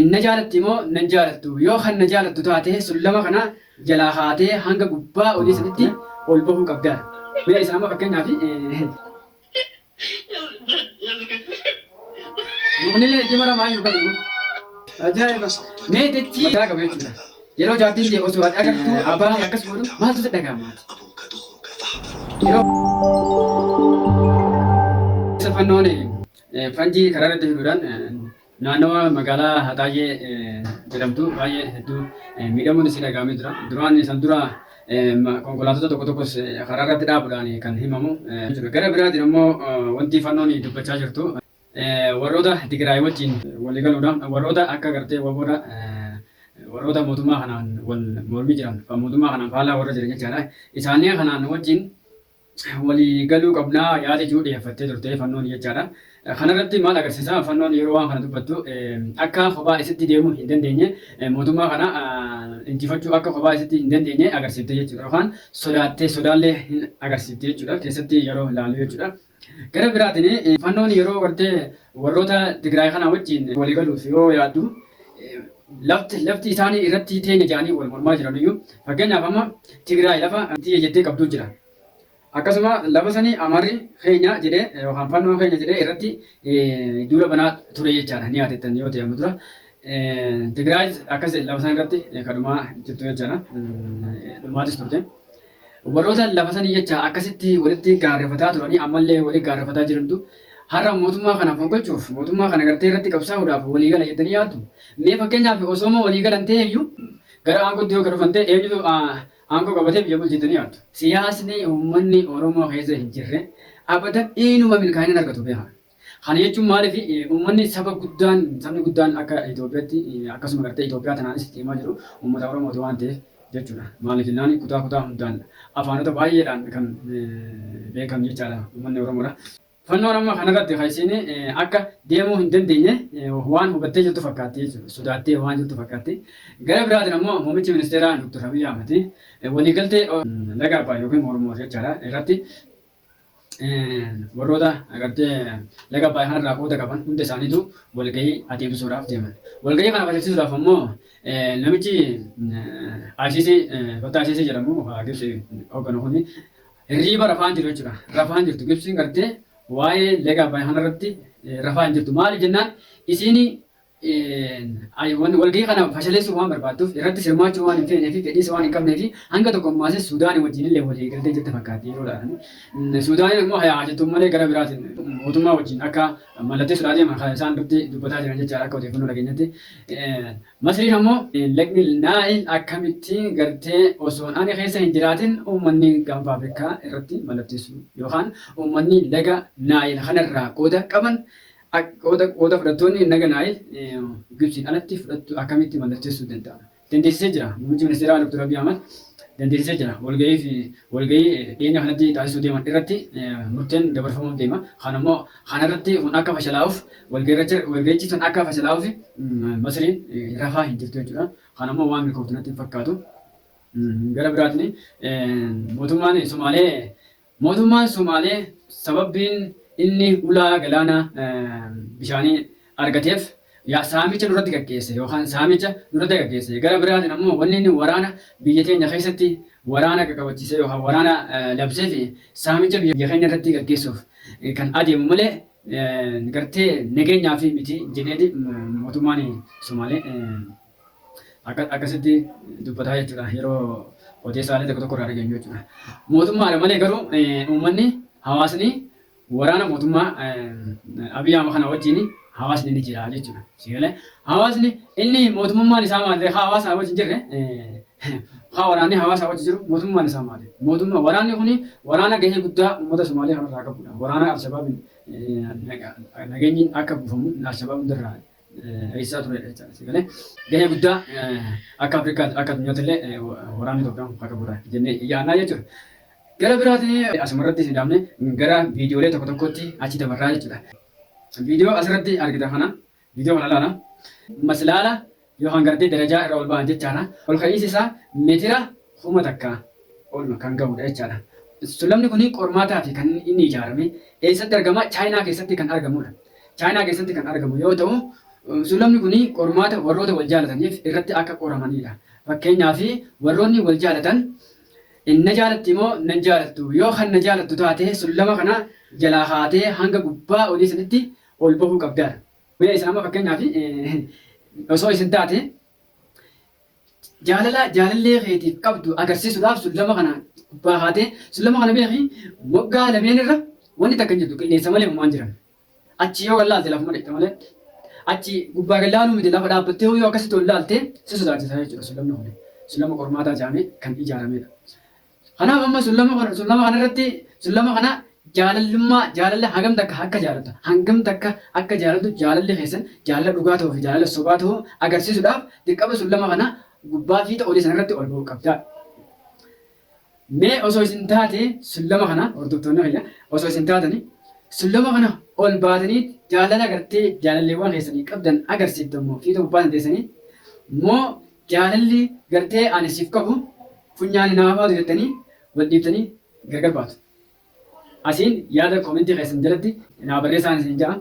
Hin na jaalattii moo na hin jaalattu? Yoo kan na jaalattu taate sullama kana jalaa kaatee hanga gubbaa olii sanitti ol bahuu qabda. Mee isin amma fakkeenyaaf. Muknillee itti mara maayyuu kan immoo. Ajaa'iba! Mee dachii mataa qaba jechuudha. Yeroo jaartiin tee osoo ati agartu abbaan kee akkas godhu maaltu si dhaga'ama ati? Yeroo isa fannoon fanjii karaa irratti fiduudhaan Naannawaa magaalaa Haxaayee jedhamtu baay'ee hedduu miidhamuun isii dhaga'amee jira. Duraan san dura konkolaatota tokko tokkos karaa irratti dhaabuudhaan kan himamu jira. Gara biraatiin ammoo wanti fannoon dubbachaa jirtu warroota Tigraay wajjin walii galuudhaan warroota akka gartee waboodha warroota mootummaa kanaan wal mormii jiran kan mootummaa kanaan faallaa warra jiran jechaadha. Isaanii kanaan wajjin walii galuu qabna yaada jedhu dhiyeeffattee turte fannoon jechaadha. Kana irratti maal agarsiisa fannoon yeroo waan kana dubbattu akka kophaa isitti deemuu hin dandeenye mootummaa kana injifachuu akka kophaa isitti hin dandeenye agarsiifte jechuudha yookaan sodaattee sodaallee hin agarsiifte jechuudha keessatti yeroo ilaallu jechuudha. Gara biraatiin fannoon yeroo gartee warroota Tigraay kanaa wajjin walii galuuf yoo yaaddu Lafti lafti isaani irratti teenya jedhanii wal mormaa jiranuyyu fakkeenyaaf amma Tigraay lafa tiyya jettee qabdu jira. Akkasuma lafa sani Amarri keenya jedhee yookaan Fannoon keenya jedhee irratti duula banaa ture jechaadha ni yaadattan yoo ta'e amma dura. Tigraayis akkas lafa sana irratti kadhumaa jirtu jechaadha. Dhumaatis turte. Warroota lafa sanii jecha akkasitti walitti gaarrefataa turanii ammallee wali gaarrefataa jirantu har'a mootummaa kana fonqolchuuf, mootummaa kana gartee irratti qabsaa'uudhaaf walii gala jettanii yaaddu? Mee fakkeenyaaf osooma walii galan ta'ee iyyuu gara aangootti yoo ka dhufan ta'e eenyutu aangoo qabatee biyya bulcha jettanii yaaddu? Siyaasni uummanni Oromoo keessa hin jirre abadan inuma milkaa'ina hin argatu beekaa. Kana jechuun maaliif uummanni saba guddaan sabni guddaan akka Itoophiyaatti akkasuma gartee Itoophiyaa tanaanis itti himaa jiru uummata Oromooti waan ta'eef jechuudha. Maaliif jennaan kutaa kutaa hundaan afaanota baay'eedhaan kan beekamu jechaadha uummanni Oromoodha. Fannoon amma kanarratti kan isiin akka deemuu hin dandeenye waan hubattee jirtu fakkaatti jechuudha. Sodaattee waan jirtu fakkaatti. Gara biraatiin ammoo muummichi ministeeraa Dr. Abiy Ahmad waliigaltee laga Abbaay yookiin Oromoo jechaadha irratti Warroota agartee laga Abbaay kanarraa qooda qaban hunda isaaniitu walgahii adeemsisuudhaaf deeman. Walgahii kana adeemsisuudhaaf ammoo namichi Asiisii Fattaa Asiisii jedhamu Gibsi hoogganu kun hirriiba rafaa hin jiru jechuudha. Rafaa hin jirtu Gibsiin gartee waa'ee laga Abbaay kanarratti rafaa hin jirtu. Maaliif jennaan isiin I walgahii kana fashaleessuu waan barbaadduuf irrattis hirmaachuu waan hin feenee fi fedhiis waan hin qabnee fi hanga tokko ammaas Suudaanii wajjin illee walii galtee jirte fakkaatti yeroo laatan. Suudaaniin immoo haa jettu malee gara biraatiin mootummaa wajjin akka mallatteessuudhaa deeman kan isaan dutti dubbataa jiran jechaadha akka odeeffannoo dhageenyatti. Masriin ammoo lagni Naayil akkamitti gartee osoon ani keessa hin jiraatin uummanni gaanfa Afrikaa irratti mallatteessuu yookaan uummanni laga Naayil kanarraa qooda qaban Akka qooda fudhattoonni hin dhaganaa'eef Gibtsiin alatti fudhattu akkamitti mallatteessuu danda'a? Dandeessisee jira. Muummichi ministeeraa Dr. Abiy Ahmad dandeessisee jira. Walgahii dhiyeenya kanatti taasisuu deeman irratti murteen dabarfamuuf deema. Kan ammoo kana irratti kun akka fashalaa'uuf walgahichi sun akka fashalaa'uuf Masriin rafaa hin jirtu jechuudha. Kan ammoo waan milkooftu natti hin fakkaatu. Gara biraatiin mootummaan Somaalee Mootummaan Somaalee sababbiin inni ulaa galaana bishaanii argateef saamicha nurratti gaggeesse yookaan saamicha nurratti gaggeesse. Gara biraatiin ammoo wanni inni waraana biyya keenya keessatti waraana qaqabachiisee yookaan waraana labseef saamicha biyya keenya irratti gaggeessuuf kan adeemu malee gartee nageenyaaf miti jedheeti mootummaan Somaalee Akkasitti dubbataa jechuudha yeroo odeessaalee tokko tokko irraa dhageenyu jechuudha. Mootummaadha malee garuu uummanni hawaasni waraana mootummaa Abiy Ahmed kana wajjin hawaasni ni jira jechuudha. Sigalee hawaasni inni mootummaan isaa maali haa hawaasaa wajjin jirre haa waraanni hawaasaa wajjin jiru mootummaan isaa maali? Mootummaa waraanni kuni waraana gahee guddaa uummata Somaalee kanarraa qabudha. Waraana Alshabaabiin nageenyi akka buufamu Alshabaab hundarraa eessaa ture jechaadha. Si galee gahee guddaa akka Afrikaatti akka addunyaatti illee waraanni Itoophiyaa kun akka gurraacha jennee yaadnaa jechuudha. Gara biraatiin asumarratti isin dhaabne gara viidiyoolee tokko tokkotti achi dabarraa jechuudha. Viidiyoo asirratti argita kana viidiyoo kana ilaala. Maslaala yookaan gartee darajaa irra ol ba'an jechaadha. Ol ka'iinsi isaa meetira kuma takka ol kan gahudha jechaadha. Sullamni kun qormaataa fi kan inni ijaarame eessatti argama? Chaayinaa keessatti kan argamudha. Chaayinaa keessatti kan argamu yoo ta'u, suulamni kun qormaata warroota wal jaalataniif irratti akka qoramaniidha. Fakkeenyaaf, warroonni wal jaalatan in na jaalatti moo nan jaalattu? Yoo kan na jaalattu taate sullama kana jalaa kaatee hanga gubbaa olii sanitti ol bahuu qabda. Mee isin amma fakkeenyaaf osoo isin taate Jaalala jaalallee keetiif qabdu agarsiisuudhaaf sullama kana gubbaa kaatee sullama kana beeki waggaa lameen irra wanti takka hin jirtu qilleensa malee homaan jiran. Achi yoo gad laalte lafuma dhaqxe malee achi gubbaa gad laaluu miti lafa dhaabbattee yoo akkasitti ol laalte si sodaachisa jechuudha sullamni kun. Sullama qormaataa jedhamee kan ijaaramedha. Kanaaf amma sullama kana sullama kana irratti sullama kana jaalallummaa jaalala hagam takka akka jaalattu hangam takka akka jaalattu jaalalli keessan jaalala dhugaa ta'uu fi jaalala sobaa ta'uu agarsiisuudhaaf dirqama sullama kana gubbaa fiixa olii sana irratti ol ba'uu qabda. Mee osoo isin taate sullama kana hordoftoonni kiyya osoo isin taatani sullama kana ol baatanii jaalala gartee jaalalleewwan keessanii qabdan agarsiiftu immoo fiixa gubbaa sana teessanii moo jaalalli gartee ani siif qabu Funyaan hin haafaatu jettanii wal dhiibtanii gargar baatu. Asiin yaada koomentii keessan jalatti naa barreessaan isin ja'a.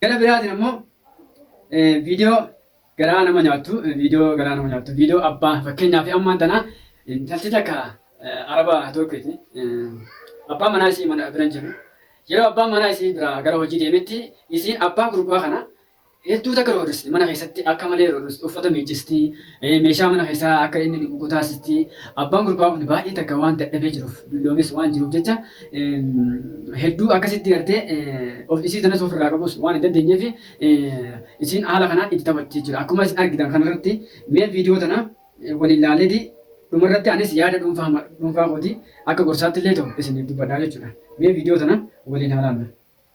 Gara biraatiin ammoo viidiyoo garaa nama nyaattu viidiyoo garaa nama nyaattu viidiyoo abbaa fakkeenyaaf ammaan tana intalti takka araba tokkooti abbaa manaa isii mana bira hin jiru yeroo abbaan manaa isii bira gara hojii deemetti isiin abbaa gurbaa kana Hedduu takka roorristi. Mana keessatti akka malee roorristi. Uffata miiccisti. Meeshaa mana keessaa akka inni dhiqu gotaasisti. Abbaan gurbaa kun baay'ee takka waan dadhabee jiruuf, dulloomes waan jiruuf jecha hedduu akkasitti gartee of isii tanas ofirraa qabus waan hin dandeenyeef isiin haala kanaan itti taphatti jechuudha. Akkuma isin argitan kanarratti mee viidiyoo tana waliin laaleeti dhumarratti anis yaada dhuunfaa dhuunfaa kooti akka gorsaatti illee ta'u isiniif dubbadhaa jechuudha. Mee viidiyoo tana waliin haa laallu.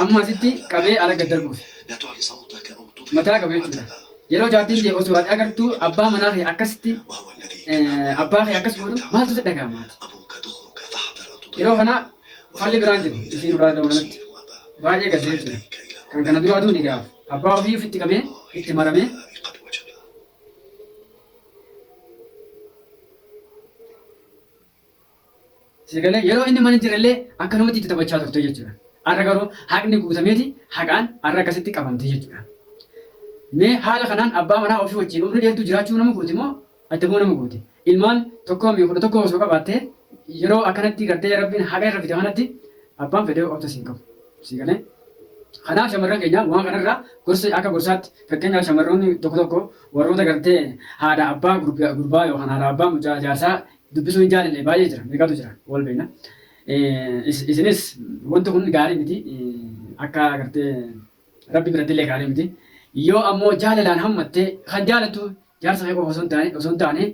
Amma asitti qabee ala gad darbuufi. Mataa qabu jechuudha. Yeroo jaartiin tee osoo ati agartuu abbaa manaa kee akkasitti abbaa kee akkas godhu maaltu si dhaga'ama? Yeroo kana falli biraan jiru isiin biraa ta'uu kanatti baay'ee gadda jechuudha. Kan kana duraa duun egaa abbaa ofii ofitti qabee itti maramee Si galee yeroo inni mana hin jirrellee akkanumatti itti taphachaa turte jechuudha. Har'a garuu haqni guutameeti haqaan har'a akkasitti qabamte jechuudha. Mee haala kanaan abbaa manaa ofii wajjin umrii dheertuu jiraachuu nama gooti moo adda ba'uu nama gooti? Ilmaan tokkoo fi kudha tokkoo osoo qabaattee yeroo akkanatti gartee rabbiin haqa irra fide kanatti abbaan fedhee obsa siin qabu. Si galee? Kanaaf shamarran keenya waan kanarraa gorsa akka gorsaatti fakkeenyaaf shamarroonni tokko tokko warroota gartee haadha abbaa gurbaa yookaan haadha abbaa mucaa jaarsaa Dubbisuu hin jaalanne baay'ee jira, meeqatu jira wal beekna. Isinis wanti kun gaarii miti akka agartee rabbi biratti illee gaarii miti. Yoo ammoo jaalalaan hammattee kan jaalattu jaarsa kee qofa osoo hin taane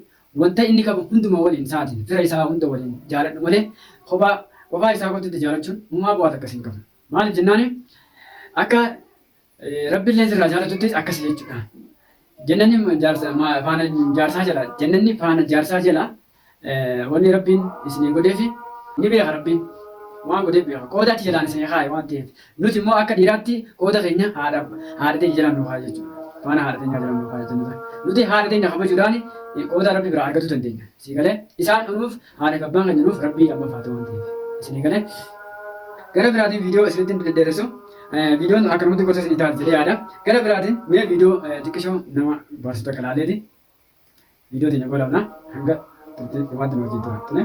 wanta inni qabu hunduma waliin sa'aatiin fira isaa hunda waliin jaaladhu malee kophaa qofaa isaa kottu itti jaalachuun humaa bu'aa takkas hin qabu. Maaliif jennaani akka Rabbi illee sirraa jaalatuttis akkasi jechuudha. Jannanni jaarsa ma- faana jaarsaa jala jannanni faana jaarsaa jala eh, wanni rabbiin isinii godheefi ni beeka rabbiin waan godheef beeka qooda achi jalaan isinii kaaye waan ta'eef nuti immoo akka dhiiraatti qooda keenya haadha haadha teenya jalaan nu kaaye jechuudha faana haadha teenya jalaan nu kaaye jechuudha nuti haadha teenya kabajuudhaan eh, qooda rabbi biraa argachuu dandeenya sii galee isaan nuuf Haadhaaf abbaan kan jedhuuf rabbii abbaaf haa ta'u waan ta'eef isinii galee gara biraatiin viidiyoo isinitti hin deddeeressu viidiyoon akkanumatti gosa isinii taati jedhee yaada gara biraatiin mee viidiyoo xiqqishoo nama baarsu takka laaleeti viidiyoo teenya goolabna hanga turtii dhumaatti nu wajjin tura tole.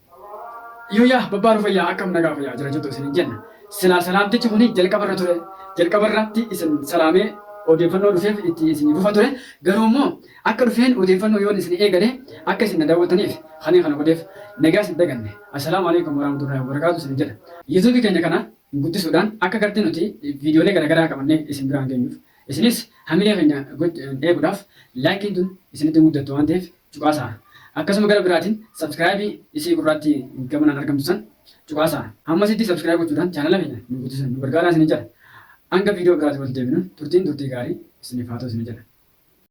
Yooyaa babbaa nu fayyaa akkam nagaa fayyaa jira jettu isin hin jenna. Silaa salaamtichi kuni jalqaba irra ture. Jalqaba irratti isin salaamee odeeffannoo dhufeef itti isin fufa ture. Garuu immoo akka dhufeen odeeffannoo yoon isin eegale akka isin na daawwattaniif kaniin kana godheef nagaa isin daganne. Assalaamu alaikum warahmatullahi wabarakaatu isin jedha. YouTube keenya kana guddisuudhaan akka gartee nuti viidiyoolee garaagaraa qabannee isin biraan geenyuuf isinis hamilee keenya eeguudhaaf laayikiin tun isinitti hin guddattu waan ta'eef cuqaasaa. Akkasuma gara biraatiin subscribe isii gurraattii gamanaan argamtu san cuqaasaa. Hammasitti subscribe gochuudhaan chaanala keenya nu guddisan nu gargaaraa isinin jedha. Hanga viidiyoo biraatiin walitti deebinu turtiin turtii gaarii isiniif haa ta'u isinin jedha.